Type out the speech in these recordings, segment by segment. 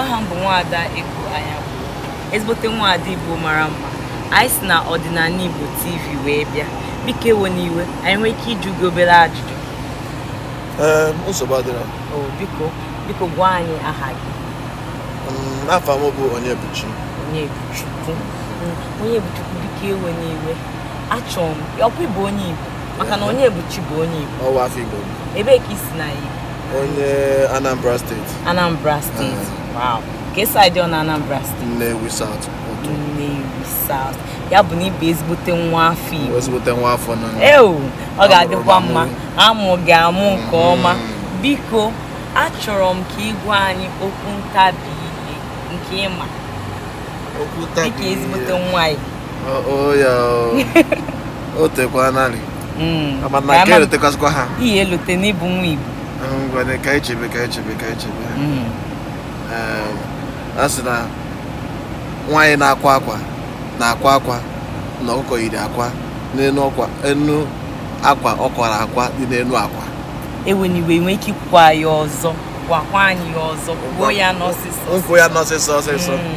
aha m bụ nwaada Ego Anyanwụ ezigbote nwaada Igbo mara mma anyị si na ọdịnala Igbo TV wee bịa biko ewena iwe anyị nwee ike ịjụ gị obere ajụjụ nsogbu adịrọ biko biko gwa anyị aha gị afa m bụ Onyebuchi Onyebuchukwu Onyebuchukwu biko ewena iwe achọrọ m ọ kwa ị bụ onye Igbo maka na Onyebuchi bụ onye Igbo nwa afọ Igbo ebee ka i si na Igbo onye Anambra steeti Anambra steeti wow kee side na Anambra steeti Nnewi South Nnewi South ya bụ na ị bụ ezigbote nwa afọ Igbo ezigbote nwa afọ Nnewi ọ ga-adịkwa mma a mụ gị amụ nke ọma biko achọrọ m ka ị gwa anyị okwu ntabi ire nke ị ma okwu ntabi ire dịka ezigbote nwa Igbo o ya o tekwa narị Mm. Ama na nke elotekwazịkwa ha i ya-elote na ị bụ nwa Igbo ngwanụ ka anyị chebe ka anyị chebe ka anyị chebe Mm. Ee, a sị na nwaanyị na-akwa akwa na-akwa akwa na ọkụkọ yiri akwa n'enu akwa ọ kwara akwa dị n'enu akwa ewena iwe i nwee ike ikwukwa ya ọzọ gwakwa anyị ya ọzọ kwuo ya n'ọsịsọ m kwuo ya n'ọsịsọ ọsịsọ Mm.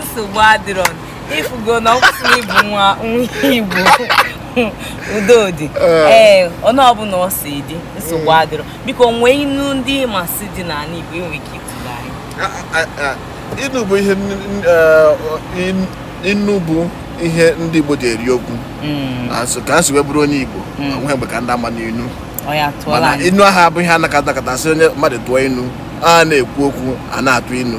nsogbu adịrọ ị fụgo na ọ kwụsịrị ị bụ nwa nwa Igbo udo dị ee eh. otu eh, ọbụla o si dị nsogbu eh. adịrọ biko o nwee inu ndị masị dị n'ala igbo i nwee ike ịtụlụ anyị inu bụ ihe inu bụ ihe ndị igbo ji eri okwu hmm. ka m si wee bụrụ onye igbo hmm. o nwehe mgbe ka ndị ama n'inu mana inu ahụ abụghị ihe a nọkata nọkata sị onye mmadụ tụọ inu a na-ekwu okwu a na-atụ inu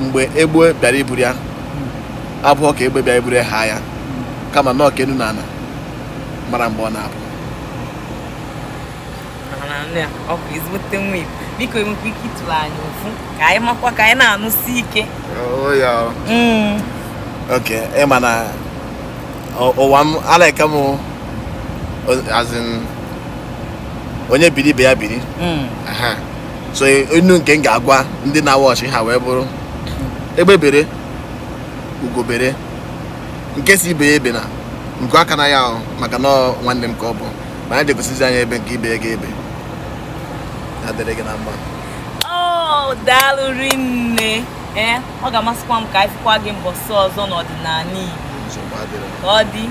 mgbe egbe bịara iburu ya abụhọ ka egbe bịara iburu ya haa ya kama na ọ ka enu na ana mara mgbe ọ na-abụ ị bụ ezigbote nwa Igbo biko i nwekwa ike ịtụrụ anyị ofu ka anyị makwa ka anyị na-anụsi ike oh, mm. okay ị ma na mụwa m a like m onye biri ibe ya biri mm. so inu nke m ga-agwa ndị na-awatch ha wee bụrụ egbe bere ugo bere nke sị ibe ya ebena nku akwana ya ahụ maka na nwanne m ka ọ bụ mana ya jee gosizie ya ebe nke ibe ya ga-ebe ya dịrị gị na mma oh, daalụ rinne ee eh, ọ ga-amasịkwa m ka anyị fụkwa gị mbọsị ọzọ n'ọdịnala Igbo ka ọ dị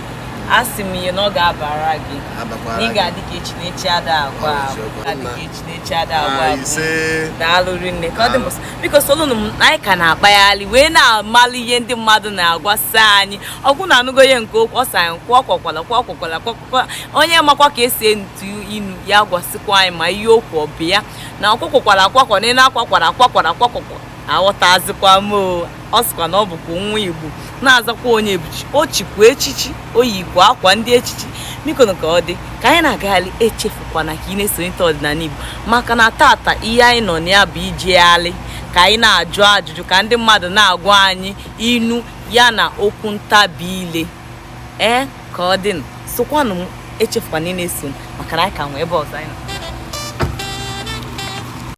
asị m ihe na ọ ga-abara gị na ị ga-adị ka echi na echi ada agwụ agwụ daalụ rinne ka ọ dị mbọsị biko solunu m anyị ka na-akpagharị wee na-amalụ ihe ndị mmadụ na-agwasị anyị ọ kwa unu anụgo ihe nke okwu ọ sị anyị kwụọ kwakwala kwụọ kwakwala kwakwakwa onye makwa ka esi etu inu ya gwasịkwa anyị ma ihe okwu ọ bụ ya na ọkwụkwụkwara akwakwa na ị na-akwakwara akwakwara akwakwakwa aghọtazikwa m o ọ sịkwa na ọ bụkwa nwa igbo na-azakwa onyebuchi o chikwa echichi o yikwa akwa ndị echichi bikonu ka ọ dị ka anyị na-agagharị echefukwana ka ị na-esonyeta ọdịnala igbo maka na tata ihe anyị nọ na ya bụ ijegharị ka anyị na-ajụ ajụjụ ka ndị mmadụ na-agwa anyị inu ya na okwu ntabi ile ee ka ọ dị sokwanụ m echefukwana ị na-eso m maka na anyị ka nwee ebe ọzọ anyị nọ